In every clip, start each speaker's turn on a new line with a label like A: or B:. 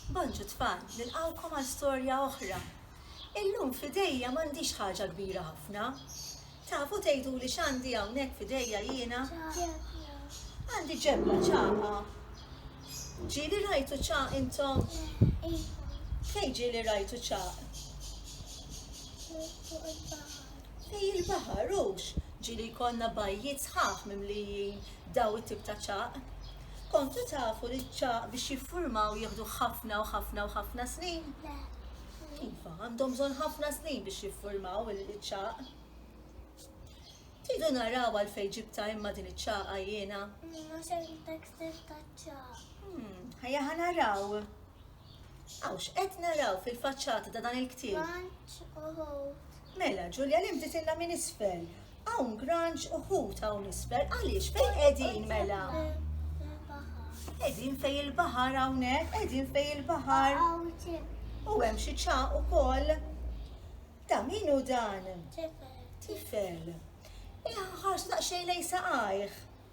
A: Bonġu tfal, nilqgħukom għal storja oħra. Illum f'idejja m'għandix ħaġa kbira ħafna. Tafu tgħiduli x'għandi hawnhekk f'idejja jiena? Għandi ġebla ċaqa. Ġieli rajtu ċaq intom? Fejn ġieli rajtu ċaq? Fej il-baħar hux ġieli jkollna bajjiet sħaħ mimlijin daw it-tip ta' ċagħaq. Kontu tafu li ċ-ċagħaq biex jiffurmaw jieħdu ħafna u ħafna u ħafna snin? Iva, għandhom bżonn ħafna snin biex jiffurmaw il-ċagħaq. Tidu naraw għal fejn ġibta imma din iċ-ċagħqa jiena. Mhux hemm tekstil ta' ċagħaq. Hmm, ħajja ħanaraw. Aw x'qed naraw fil-faċċata ta' dan il-ktieb? Granġ u ħut. Mela, Ġulja, li mtitilna minn isfel. Hawn granġ u ħut hawn isfel. Għaliex fejn qegħdin mela? Qegħdin fejn il-baħar hawnhekk, qegħdin fejn il-baħar. U hemm xi ċaq ukoll. Ta' min hu dan? Tifel. Tifel. Iħħarx naqxej lej saqajh.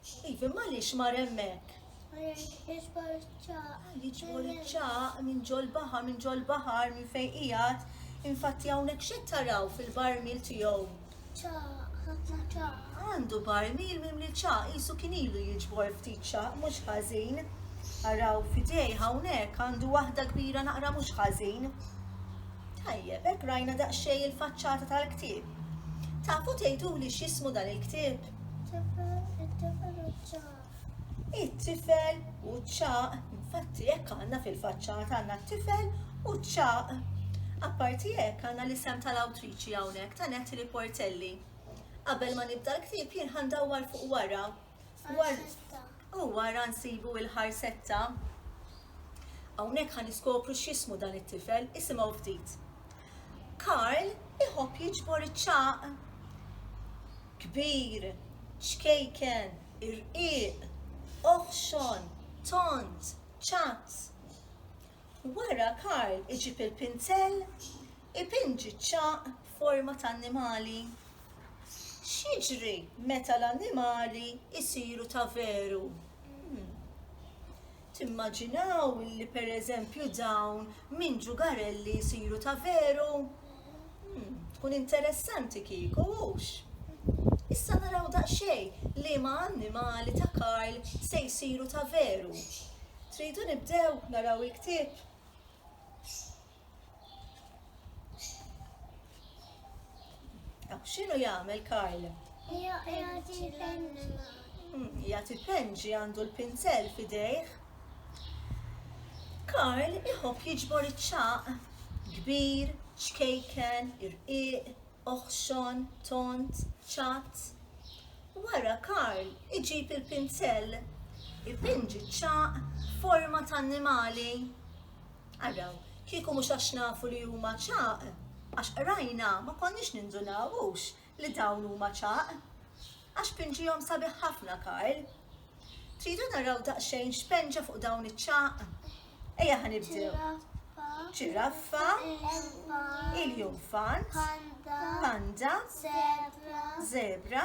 B: Steve, imma għaliex mar
A: hemmhekk?
B: Għaliex jiġbor iċ-ċaq. Jiġbor
A: iċ-ċaq minn ġol baħar, minn ġol baħar, minn fejn qiegħed. Infatti hawnhekk xi taraw fil-barmil tiegħu? ċaq,
B: ħafna ċaq. Għandu barmil
A: minn li ċaq, jisu kien ilu jiġbor ftit ċaq, mhux ħażin. Araw fidej hawnhekk għandu waħda kbira naqra mhux ħażin. Tajjeb, hekk rajna daqsxejn il-faċċata tal-ktieb. Tafu tgħiduli x'ismu dan il-ktieb?
B: It-tifel
A: u ċaq, infatti jekk għandna fil-faċċata għandna t-tifel u ċaq. Apparti jekk għandna l-isem tal-awtriċi hawnhekk ta' Netti li Portelli. Qabel ma nibda l-ktib jien ħandawwar fuq wara. U wara nsibu il-ħarsetta. Hawnhekk ħan iskopru x'ismu dan it-tifel, isimgħu ftit. Karl iħobb jiġbor iċ-ċagħaq. Kbir, xkejken, irqiq, oħxon, tond, ċatt. Wara Karl iġib il-pinzell, ipinġi ċ-ċagħaq b'forma ta' annimali. X'jiġri meta l-annimali jsiru ta' veru? Timmaġinaw li pereżempju dawn minn ġugarelli jsiru ta' veru? Tkun interessanti kieku, hux? Issa naraw daqsxejn liema annimali ta' Karl se jsiru ta' veru. Tridu nibdew naraw il-ktieb? X'inhu jagħmel Karl? Jagħti penġi. Hmm, jagħti penġi għandu l-pinzell f'idejh. Karl iħobb jiġbor iċ-ċaq kbir, ċkejken, irqiq, oħxon, tont, ċatt. Wara Karl iġib il-pinzell, ipinġi ċ-ċaq forma ta' annimali. Araw, kieku mhux għax nafu li huma ċagħaq, għax qrajna, ma konniex nindunaw, hux, li dawn huma ċagħaq. Għax pinġihom sabiħ ħafna, Karl. Tridu naraw daqsxejn x'penġa fuq dawn iċ-ċagħaq? Ejja ħa nibdew. Ġiraffa, iljunfant, panda, żebra,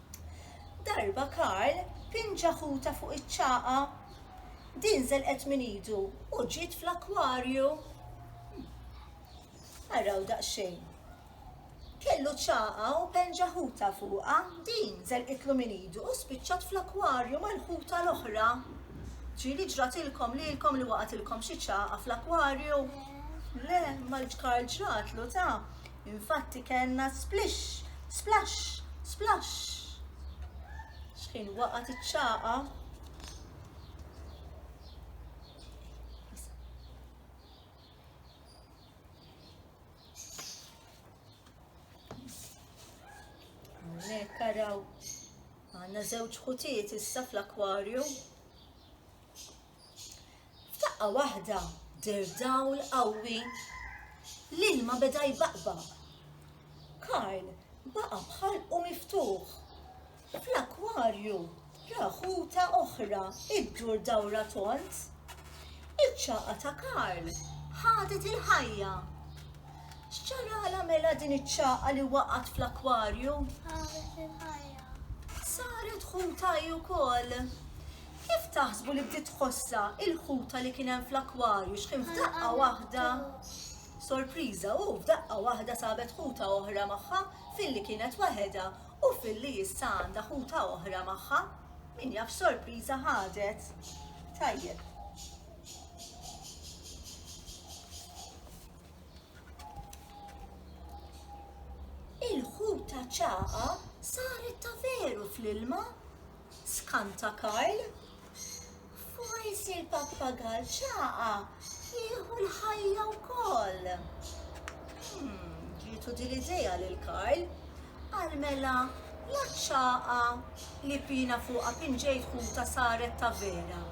A: Darba Karl pinġa ħuta fuq iċ-ċagħa. Din żelqet minn idu u ġiet fl-akkwarju. Araw daqsxejn. Kellu ċagħa u penġa ħuta fuqha, din żelqitlu minn idu u spiċċat fl-akkwarju mal-ħuta l-oħra. Ġieli ġratilkom lilkom li waqgħatilkom xi ċagħa fl-akkwarju? Le, imma Karl ġratlu ta, Infatti kellna splixx, splaxx, splaxx. Xħin waqgħet iċ-ċaqa. Hawnhekk araw għandna żewġ ħutiet issa fl-akwarju. F'daqqa waħda deher dawl qawwi. L-ilma beda jbaqbaq. Karl baqa' b'ħalqu miftuħ. Fl-akkwarju ra ħuta oħra ddur dawra tond. Iċ-ċagħqa ta' Karl ħadet il-ħajja. X'ġaralha mela din iċ-ċagħqa li waqgħet fl-akkwarju?
B: Saret
A: ħuta hi wkoll. Kif taħsbu li bdiet tħossha il-ħuta li kien hemm fl-akwarju x'kien f'daqqa waħda? Sorpriża u f'daqqa waħda sabet ħuta oħra magħha filli kienet waħedha u filli issa għandha ħuta oħra magħha. Min jaf x'sorpriża ħadet? Tajjeb. Il-ħuta ċaqa saret ta' veru fl-ilma Skant ta' Karl, forsi l-pappagall ċaqa jieħu l-ħajja wkoll. Ġietu din l-idea lil Karl, qal mela la ċaqa li pina fuqha pinġejt ħuta saret ta' vera.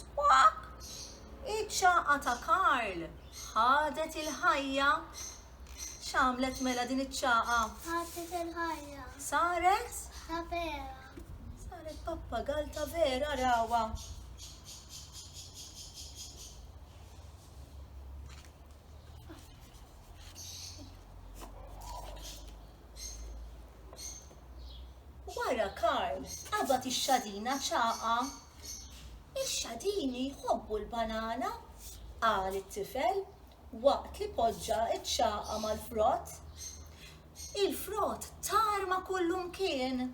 A: Squaq! Iċ-ċagħqa ta' Karl ħadet il-ħajja. X'għamlet mela din iċ-ċagħqa? Ħadet il-ħajja.
B: Saret?
A: Ta' vera.
B: Saret
A: pappagal ta' vera rawa. Wara Karl qabad ix-xadina ċagħqa Ix-xadini jħobbu l-banana, qal it-tifel waqt li poġġa ċ-ċagħqa mal-frott. Il-frott tarma kullumkien.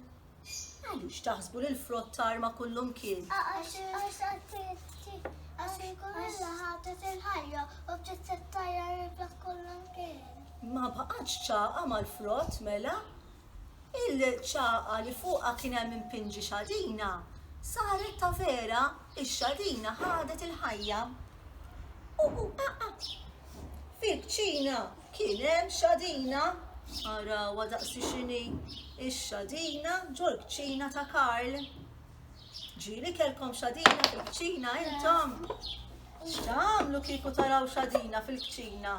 A: Għaliex taħsbu li l-frott tarma kullumkien?
B: Għax ikun illa ħatet il-ħajja u bdiet tittajjar il-frott kullumkien. Ma baqgħetx
A: ċagħqa mal-frott mela? Il-ċagħqa li fuqha kien hemm impinġi xadina saret ta' vera, ix-xadina ħadet il-ħajja. Uhu aqqa'! Fil-kċina kien hemm xadina! Arawha daqsi x'inhi, ix-xadina ġol-kċina ta' Karl. Ġieli kellkom xadina fil-kċina intom? X'tagħmlu kieku taraw xadina fil-kċina?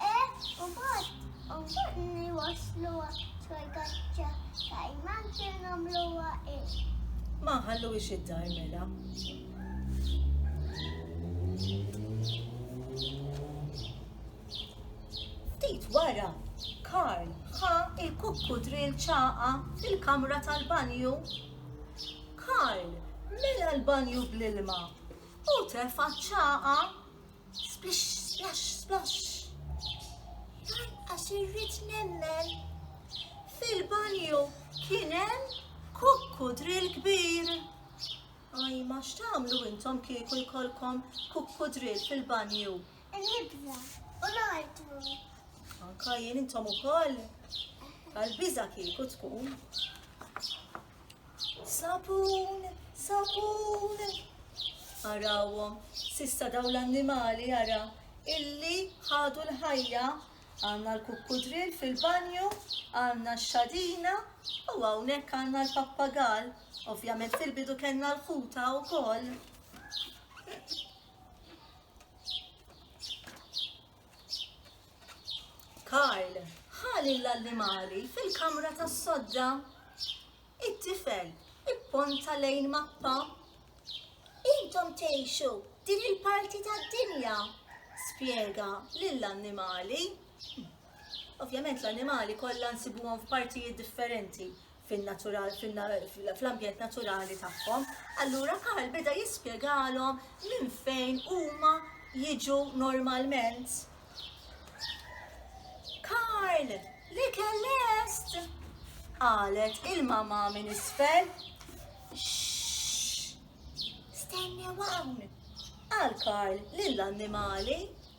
A: E u bot u botni wasluha xoj kaċċa kajman kien għamluha e. Ma nħalluhiex id-dar mela. Ftit wara, Karl ħa il-kukku drill ċaqa fil-kamra tal-banju. Karl mela l-banju bl-ilma u tefa ċaqa Splish, splash, splosh. Lanqas irrid nemmen. Fil-banju kien hemm kukku drill kbir. Aj, ma x'tagħmlu intom kieku jkollkom kukku drill fil-banju. Il-libda
B: u l-artu. Anka
A: jien intom ukoll. Għal-biża kieku tkun. Sapun, sapun. Arawhom, sissa daw l-annimali ara illi ħadu l-ħajja għanna l-kukkudril fil-banju, għanna x-xadina u hawnhekk għanna l-pappagal. Ovvjament fil-bidu kellna l-ħuta wkoll. Karl ħa lill-allimali fil-kamra tas-sodda. It-tifel ipponta lejn mappa. Intom tgħixu din il-parti tad-dinja, spjega lill-annimali. Ovvjament l-annimali kollha nsibuhom f'partijiet differenti fl-ambjent naturali tagħhom, allura Karl beda jispjegalhom minn fejn huma jiġu normalment. Karl, li kellest! Qalet il-mama minn isfel. Stenni hawn! Qal Karl lill-annimali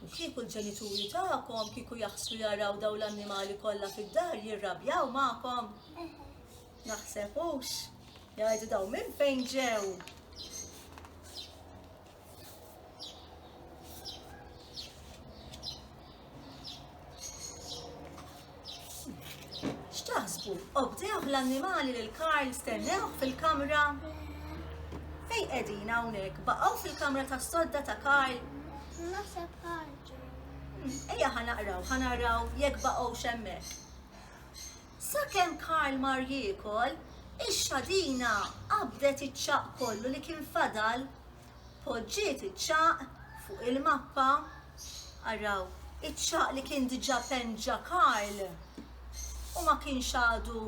A: U kieku l-ġenituri tagħkom kieku jaħslu jaraw dawn l-annimali kollha fid-dar jirrabjaw magħkom? Naħseb hux. Jgħidu daw minn fejn ġew. X'taħsbu? Obdewh l-annimali lil Karl stennewh fil-kamra? Fejn qegħdin hawnhekk? Baqgħu fil-kamra tas-sodda ta' Karl? Naħseb
B: ħarġu. Ejja
A: ħanaqraw, ħanaraw jekk baqgħu xemmek. Sakemm Karl mar jiekol, ix-xadina qabdet iċ-ċaq kollu li kien fadal poġġiet iċ-ċagħaq fuq il-mappa. Araw, iċ-ċagħaq li kien diġà penn ġa Karl u ma kienx għadu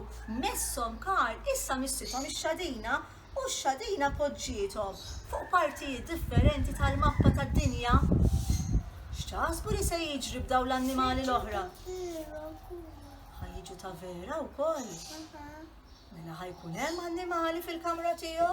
A: messhom Karl, issa missithom ix-xadina u x-xadina poġġiethom fuq partijiet differenti tal-mappa tad-dinja. X'taħsbu li se jiġri b'dawn l-annimali l-oħra? Ħa jiġu ta' vera wkoll. Mela ħajkun hemm annimali fil-kamra tiegħu?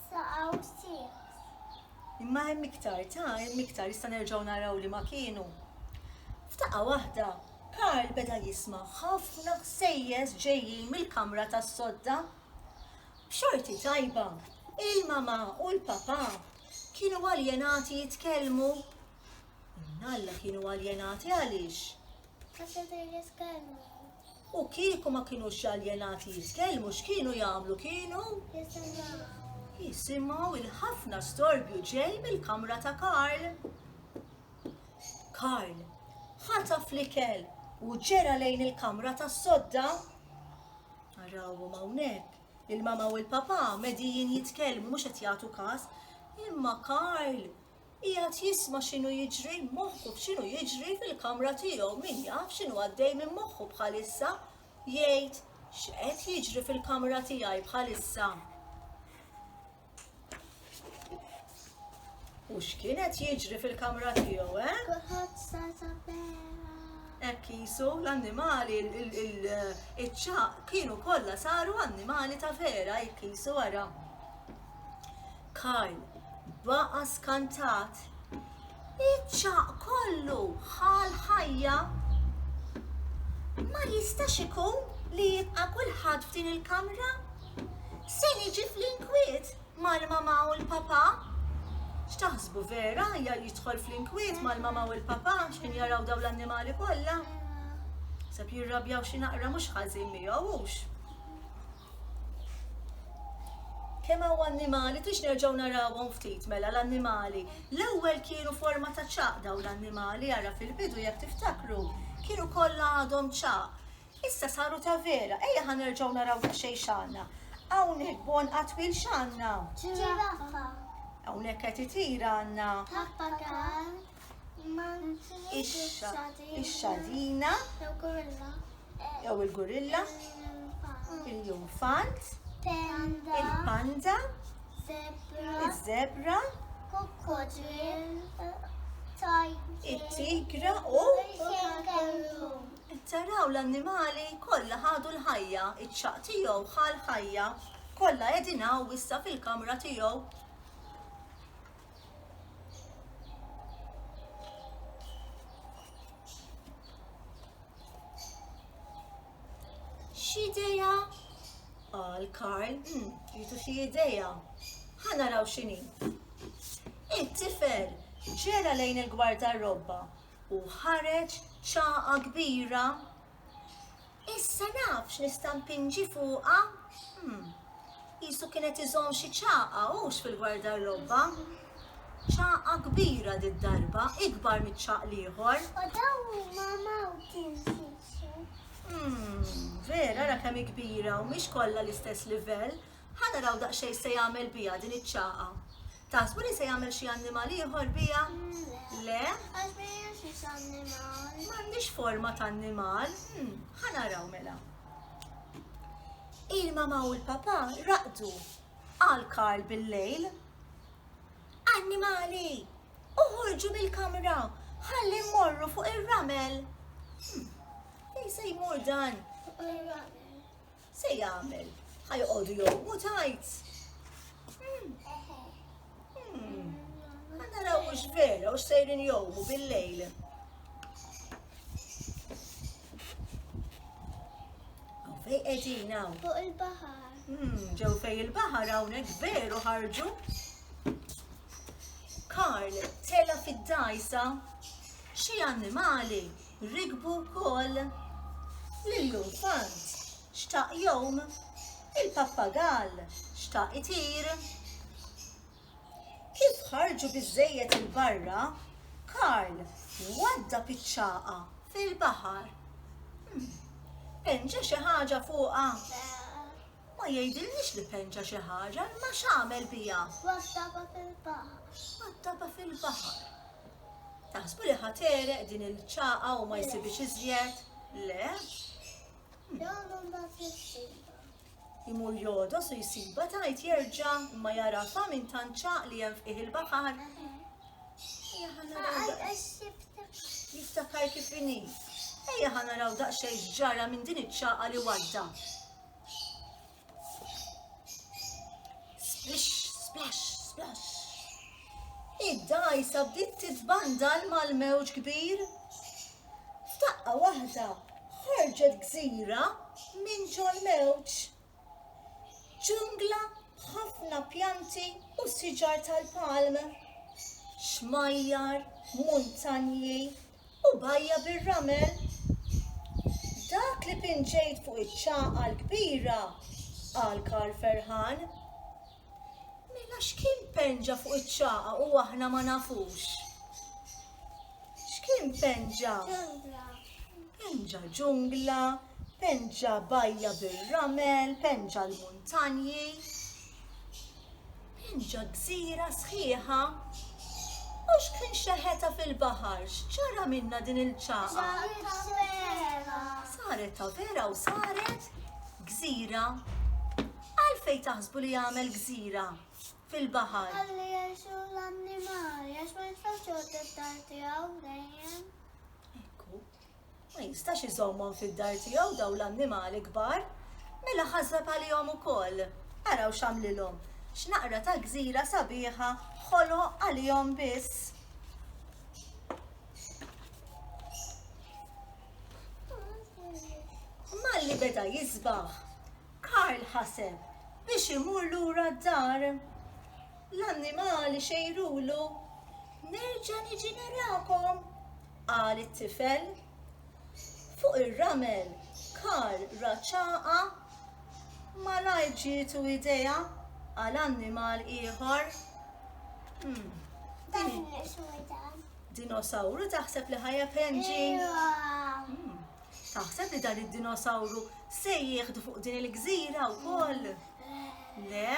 B: saqgħu siehqs.
A: Imma hemm iktar ta' hemm iktar issa nerġgħu naraw liema kienu. F'daqqa waħda, Karl beda jisma' ħafna ħsejjes ġejjin mill-kamra tas-sodda. B'xorti tajba, il-mamà u l-papà kienu aljenati jitkellmu. Imnalla kienu aljenati għaliex? Għax qed jitkellmu. U kieku ma kinux aljenati jitkellmu x'kienu jagħmlu kienu? Jisimgħu il-ħafna storbju ġej mill-kamra ta' Karl. Karl ħata flikel u ġera lejn il-kamra tas sodda. Narawhom hawnhekk il-mama u l-papa medijin jitkellmu mhux qed jagħtu każ, imma Karl Qiegħed jisma' x'inhu jiġri moħħu b'x'inhu jiġri fil-kamra tiegħu min jaf x'inhu għaddej minn moħħu bħalissa, jgħid x'qed jiġri fil-kamra tiegħi bħalissa. U x'kienet jiġri fil-kamra tiegħu, eh? Kuħat sa
B: vera. Hekk
A: jisu l-annimali, il-ċaq kienu kollha saru annimali ta' vera, hekk jisu wara. Karl baqa' skantat. Iċ-ċagħaq kollu ħa l-ħajja! Ma jistax ikun li jibqa' kulħadd f'din il-kamra? Se niġi fl-inkwiet mal-mama u l-papa? X'taħsbu vera jidħol fl-inkwiet mal-mama u l-papa xejn jaraw dawn l-annimali kollha? Sab jirrabjaw xi naqra mhux ħażin miegħu hux. Kemm hawn annimali, tiex nerġgħu narawhom ftit mela l-annimali. L-ewwel kienu forma ta' ċaq daw l-annimali, ara fil-bidu jekk tiftakru, kienu kollha għadhom ċaq. Issa saru ta' vera, ejja ħa nerġgħu naraw xejn x'għandna. Hawnhekk bon qatwil x'għandna? Ġiraffa.
B: Hawnhekk
A: qed itira għandna? Pappagal. ix-xadina, jew il-gurilla, il-junfant, il-panda, iż-żebra, it-tigra u taraw l-annimali kollha ħadu l-ħajja, iċ-ċaq tiegħu ħal ħajja, kollha qegħdin hawn issa fil-kamra tiegħu. X'ideja? Qal Karl, hmm, jitu xi ideja. Ħa naraw x'inhi. It-tifel ġera lejn il-gwarda robba u ħareġ ċaqa kbira Issa naf x'nista' mpinġi fuqha. Hm. Qisu kien qed iżomm xi ċagħqa hux fil-gwardarrobba. Ċagħqa kbira did-darba, ikbar miċ-ċagħaq l-ieħor. U dawn huma
B: mountain sisu. Hm,
A: vera ara kemm hi kbira u mhix kollha l-istess livell. Ħa naraw daqsxejn se jagħmel biha din iċ-ċagħqa. Taħsbu li se jagħmel xi annimal ieħor biha? Le. Għax ma jemxiex
B: annimal. M'għandix forma
A: ta' annimal. Hmm, ħanaraw mela. Il-mama u l-papa raqdu għal Karl bil-lejl. Annimali, uħorġu mill-kamra, ħalli morru fuq ir-ramel. Hmm, Fejn se jmur dan? Fuq ir-ramel. Se jagħmel? Ħa joqogħdu jogħmu tajt. Hmm. Hmm. Ħa naraw hux vera u sejrin jogħmu bil-lejl. Fej qegħdin hawn. Fuq il-baħar. Hmm,
B: ġew fej
A: il-baħar hawnhekk veru ħarġu. Karl tela fid-dajsa xi annimali rikbu wkoll lill-infant xtaq jgħum, il-pappagall xtaq itir. Kif ħarġu biżżejjed 'il barra, Karl waddab iċ-ċagħqa fil-baħar. Pen ġa xi ħaġa fuqha? Ma jgħidilniex li penċa xi ħaġa, imma x'għamel biha? Waddabha
B: fil-baħar. Waddabha
A: fil-baħar. Taħsbu li ħa tereq din il-ċaqa u ma jsibix iżjed? Le?
B: Jagħmel ma tissibha. Imur
A: jodos u jsiba tajt jerġa' ma jarafa minn tant ċaq li hemm fih il-baħar. Jiftakar kif inhi. Ejja ħana raw daqsxejn ġara minn din iċ-ċaqa li wadda. Splish, splash, splash. Id-dajsa bdiet titbandal mal-mewġ kbir. F'daqqa waħda ħarġet gżira minn ġol mewġ. Ġungla ħafna pjanti u siġar tal-palm. Xmajjar, muntanji, U bajja' bir-ramel. Dak li pinġejt fuq iċ-ċagħqa l-kbira, qal Karl ferħan. Mela x'kien penġa fuq iċ-ċagħqa u aħna ma nafux? X'kien penġa? Ġungla. Penġa ġungla, penġa bajja bir-ramel, penġa l-muntanji. Pinġa gżira sħiħa? U x'kien xeħetha fil-baħar? X'ġara minnha din il-ċagħa? Saret tavera! Saret tavera u saret gżira. Għalfejn taħsbu li għamel gżira fil-baħar? Ħalli jgħixu
B: l-annimali għax ma jistax joqgħod it-tarti hawn dejjem.
A: Ma jistax iżommhom fid-dar tiegħu dawn l-annimali kbar. Mela ħażżab għalihom ukoll. Araw x'għamlilhom. X'naqra ta' gżira sabiħa ħoloq għalihom biss. Malli beda jisbaħ, Karl ħaseb biex imur lura d-dar. L-annimali xejrulu, nerġa' niġi narakom. Qal it-tifel. Fuq ir-ramel Karl ra ċagħa. Malajr ġietu idea għal annimal ieħor. Hmm. Din Dinosawru taħseb li ħajja penġi? Hmm. Taħseb li dan id-dinosawru se jieħdu fuq din il-gżira wkoll? Le?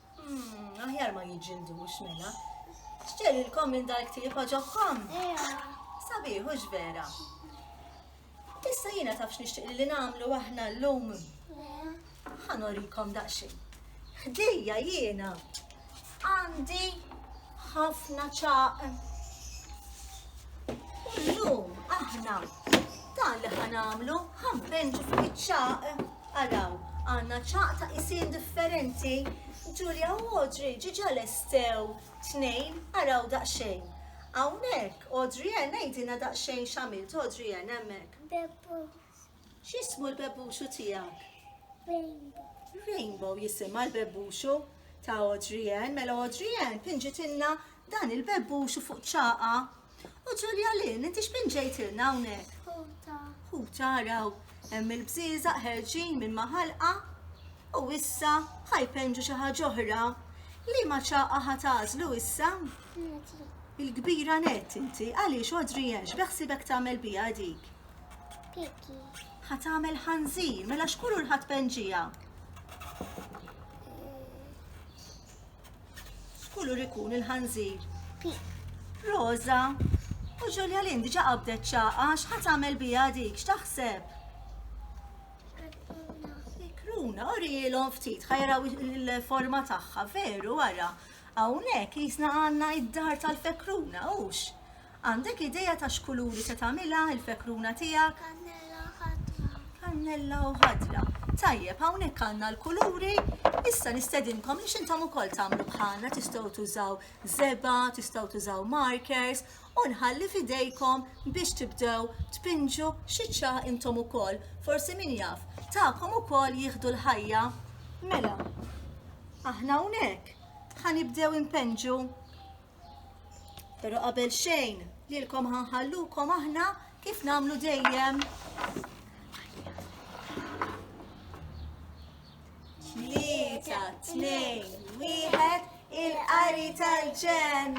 B: Hmm,
A: aħjar ma jiġġildux mela. Xġerilkom minn dal-ktieb għaġobkom? Sabiħ, hux vera. Issa jiena tafx nixtieq li nagħmlu aħna llum. Ħanorikom daqsxejn. Ħdejja jiena għandi ħafna ċaq. Illum aħna dan li ħanamlu ħanbenġu fuq iċ-ċaq. Araw, għandna ċagħaq ta' qisien differenti. Julia u Audrey ġiġa lestew tnejn, araw daqsxejn. Hawnhekk, Audrey Ann għidilna daqsxejn x'għamilt Audrey Ann hemmhekk. Bebbux.
B: X'ismu
A: l-bebbuxu tiegħek? Rainbow.
B: Rainbow
A: jisimha l-bebbuxu ta' Audrey Ann. Mela Audrey Ann pinġitilna dan il-bebbuxu fuq ċaqa U Ġulja Lynn, inti x'bin ġejtilna hawnhekk? Ħuta.
B: Ħuta raw,
A: hemm il-bżieżaq ħerġin minn ma' ħalqa u issa ħajpenġu xi ħaġa oħra. Liema ċaqa ħa tagħżlu issa?
B: Il-kbira
A: net inti, għaliex Adrian x'beħsibek tagħmel biha dik?
B: Piki. Ħa tagħmel
A: ħanżir, mela xkuru l-ħadd penġija. X'kulur ikun il-ħanżir?
B: Roża.
A: U Ġulja Lin diġa qabdet ċaqa, x'ħat għamel bija dik, x'taħseb?
B: Kruna, u
A: rijilhom ftit, ħajraw il-forma tagħha, veru wara. Hawnhekk jisna għandna id-dar tal-fekruna, hux? Għandek idea ta' x'kuluri se tagħmilha l-fekruna tiegħek?
B: Kannella u ħadra. Kannella u
A: ħadra. Tajjeb, hawnhekk għandna l-kuluri. Issa nistedinkom biex intom ukoll tagħmlu bħalna, tistgħu tużaw żebgħa, tistgħu tużaw markers u nħalli f'idejkom biex tibdew tpinġu xi ċagħa intom ukoll. Forsi min jaf, tagħkom ukoll jieħdu l-ħajja. Mela, aħna hawnhekk ħanibdew impenġu Pero qabel xejn, lilkom ħanħallukom aħna kif namlu dejjem. Tlieta, tnejn, wieħed, il-qari tal-ġen.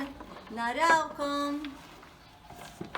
A: Narawkom.